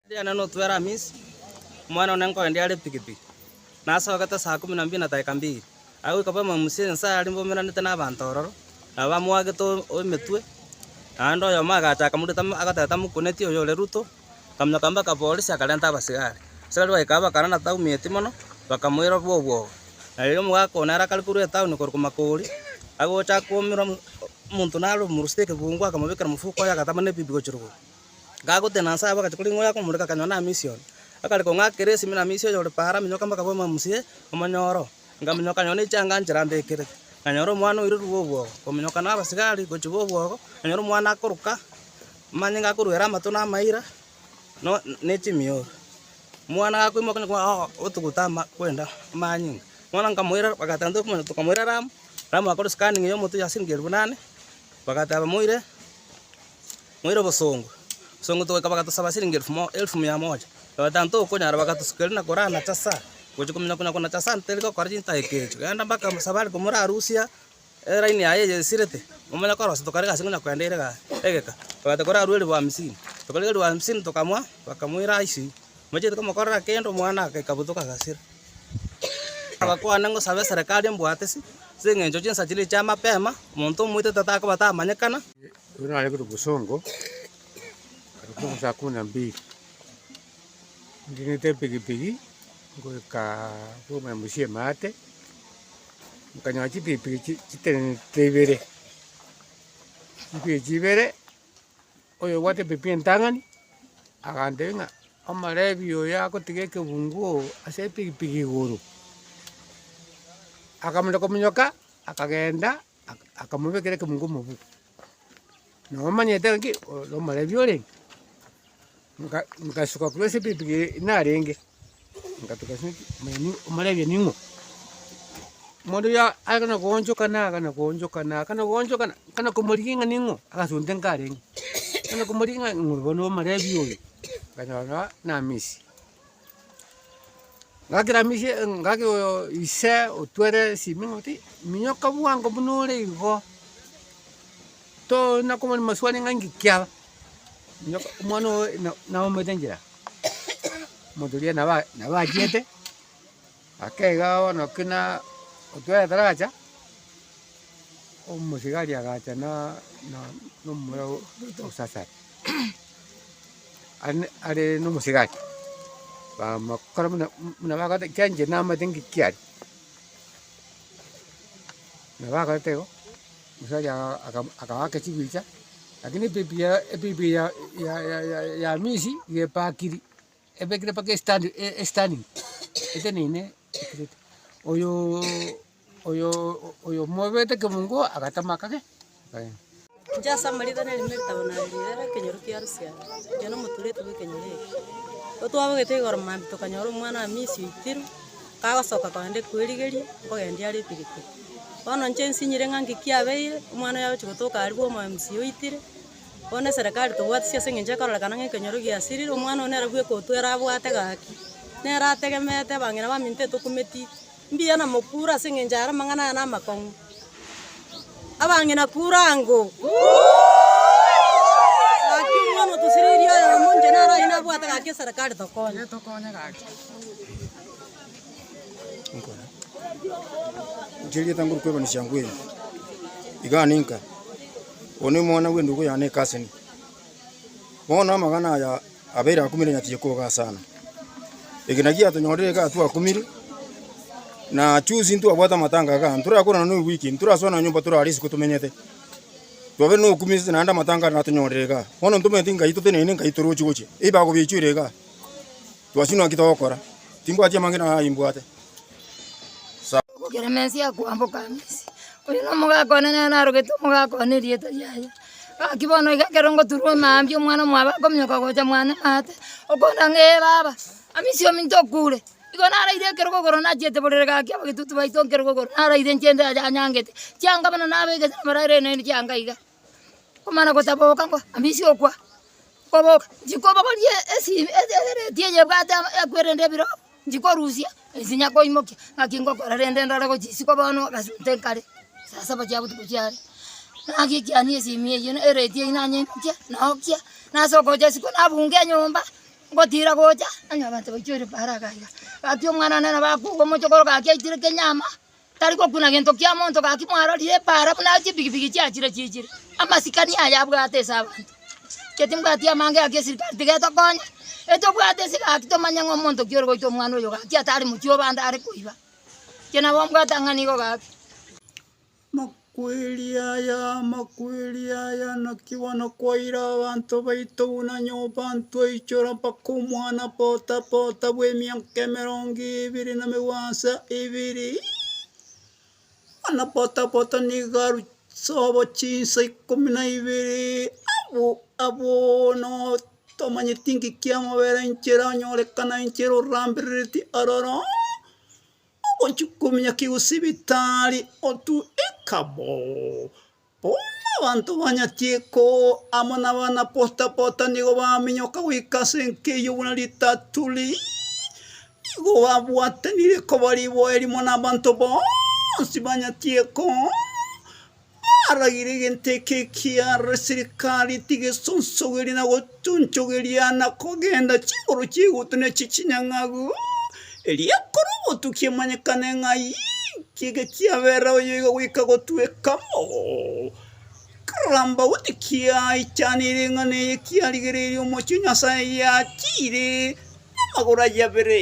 Ndiana notwere Hamisi, omwana one nkoende are epikipiki, nasogete saa kumi na mbiri na daeka mbiri, aye goika baime Musa ense aria bomeranete n'abanto ororo, nabo bamoagete emetwe, naende oyomo agacha akamoreta, agateta mokuneti oyore Ruto. Akamanya kambao ka polisi akarenta abasigari. Abasigari bagaika bakarora na Taumi eti mono, bakamoira bw'obwoba. Na rirorio omogaka oo nere akarikorwa etauni korokwa makori, agocha akoumera omonto nare omorusete ekegungu akamobekera mofuko oye agatama nebibi gochia rogoro. Gagotenena nse abwo agachia koreng'wa oyo akomoreka akanyora namisi one. Akareka ong'akera esimi namisi oyo ore paara aminyoka mpaka abe omamsie, omonyore oo. Ngaminyoka akanyora ne chianga nchera ambekerete. Nganyora omwana oirwe bw'obwogo, kominyoka na abasigari gochia bw'obwogo, nganyora omwana akoroka. Manye ngakoruere amato na amaira, ne chimioro. Omwana gakoimoka onye koba otuguta ama kwenda amanyinga. Bono nkamoira bagatanta okomanya tokamoira Ramu, Ramu agakora scanning ya omoto yasiringi elfu inane, bagateba moire, moire obosongo, obosongo togoika bagatosaba siringi elfu mo elfu mia moja. Bagatanta okonyara bagatosuka erinde nakora nachasaa, gochia komenya konya konachasaa nterigokora chintageka echo. Genda mpaka mosabari komora arusia. Eraini yaye eyesirete, momanya korosia, tokarega ase ng'ina kwenda erega egeka, twabate korarua elifu hamisini. Tokarega elifu hamisini tokamoa, bakamoira Aiswi, Mochiete komokorera kende omwana aka ikabutoka agasira. Agakwana, Ngosabe eserekari embwate ase engencho chinsa chiria chia mapema, omonto omoite tatakobata amanyekana. Ekero naregete obosongo, ekero saa kumi na mbili, ning'ete epikipiki ngoika kobua mosio emaate. Nkanyora chibipi echi chitenenete ibere, chibipi echi ibere, oyo obwate ebipi entang'ani, agantebia ng'a omorebi oyo agotiga ekebungu oo ase epikipiki igoro, akamoreka omonyoka, akagenda, akamobekera ekebungu omobuku. Nabo omanyete ng'aki ore omorebi orenge, nka nkasuka korwa ase epikipiki eye narenge, ngatuga ase eng'aki mwaino omorebi oino ing'o? Omonto oyo akana koonchokana akana koonchokana akana koonchokana, nkana komorigia ng'a ning'o? Agasunte nkarenge, nkana komorigia ng'a ng'o bono omorebi oyo, nkanyora namisie. Ngakiramisie ngaki oyo ise otwere esimi ng'oti, minyoka bwango buna ore igo, toorina komoni maswali ng'a inki kiaba, nyoka omwana oye na- naumete enchera, omonto oria naba nabachiete. Akeiga bono ki na otware ataracha, omosigari agacha na na na omomura o osasare are are na omosigari, bamokora buna buna bagote ekiagera inche namanyete ng'iki are. Nabo agoeta igo, omosacha aka- aka- akaba ake chibicha, lakini epipi ya epipi ya ya ya ya ya misi iga epakiri. Ebekire mpaka estandi esitanding eteneine ekiriti. Oyoo oyoo oyo omobete kemungo agatema akagenda akagenda. Inche ase amarita nari na eritabo narerire ekenyoro kia Rusia, inche na omotureti bw'ekenyoro eke. Ekero twabogete igoro maambia tokanyora omwana Hamisi oitirwe, kagosoka kogenda ekwerigeria, nkogendia are epikipiki. Bono inche nsinyire ng'a nki kiabeire, omwana oyo agochia gotoka aria bw'omo Hamisi oitire. Bono eserekari tobwati chia ase engencho ekororeka ng'a ekenyoro giasirire, omwana one nere bw'ekotu ere abwate gaki, nere ategemete abang'ina baminto etokumeti, mbuya na mokure ase engencho aya amang'ana aya namakong'u. Abang'ina kura ango. Gaki omwana otosiririe oyomo inche naro oyio nabwate gaki eserekari tokonye. Inche erieta ngoru kwebanichia ngw'eri, iga ninka. Oyo nomwana bw'endugu yane ekaseni. Bono amagana aya abeire akumire nyatiye koga asana. Eke nakio giatonyorire iga twakumire, na chuzi ntwabwate amatanga iga, ntorakorana noyo bweki, ntorasoa nonya nyomba torare isiko tomenyete. Twabeire nokumi ase naende amatanga aria natonyorire iga. Bono ntomeeti Ngai totenene Ngai torochi gochia, ebibago biachiire iga. Twachunwa naki togokora? Timbwati amang'ina aya imbwate. Sa. Gokera mensi ya kwamboka Misiri. Oyo nomogaka one nere narogete omogaka one erieta riaye. Gaki bono iga ekero ngoturwa omambia omwana omwabo akominyoka gocha mwane maate, okonda ng'a ee baba, amiche ominto okure. Igo naraire ekero kogoro nachiete borere gaki abagetutu baito nkere kogoro naraire nchiende aja anyangete, chianga buna nabegeire amarere naende chianga iga. Omwana gosaboka ngwa mbisi okwa, nkoboka nchikobogorie esi ebereti eye ebwate ama ekwerende ebiro, nchikorusia esinya koimokia, ng'aki ngokora rende ndore gochia isiko bono ogasute nkare, saa saba chia botuko chiare. Naki ekiania esimi eyio na ereti eyio nanyeimokia, naokia, nasoka gochia isiko nabunga enyomba, ngotira gocha, onye abanto baichorire pa haraka aiga, gaki omwana one nabo akowa omochokoro gaki aitire kenyama, Tari gokuna gento kia monto gaki mwarorire epaara buna chibigibigi chiachire chichire amasikani aya abwate ase abanto. Inche timbwati amange gaki esirikari tiga etokonye, etobwate ase gaki tomanye ng'a omonto ki ore goita omwana oyo gaki atari mochie obande are koiba. Inche nabo mbwate ang'ana igo gaki. Kweri aya, amakweri aya, naki bono kwaira abanto baito buna nyomba ntwaichora mpaka omwana pota pota bw'emiaka emerongo ebere na megwansa ebere, omwana pota pota nigo aru sobo chinsa ikomi na ibere, abu abu bono tomanyeti ng'iki amabera inchera onyorekana inchera oramberereti ororo. Ogochia komia kegosibitari otue ekabo. Bono abanto ba Nyatieko amo nabana Pota Pota nigo baminyoka goika ase enkeiyo buna ritato riiye. Nigo babwatanire koba riboe rimo nabanto bonsi ba Nyatieko. Aragire egento eke ekia Reserikari tigesonsogerie na gotunchogeria na kogenda chinguru chi'egutu ne chi'chinyang'agu, erio ekore obotuki emanyekane ng'a aye ekiege kiabera oyo iga goika gotweka bo kerambagu tikiaichanire ng'a neye kiarigereirie omochie o Nyasaye yachiire namagoro aye abere.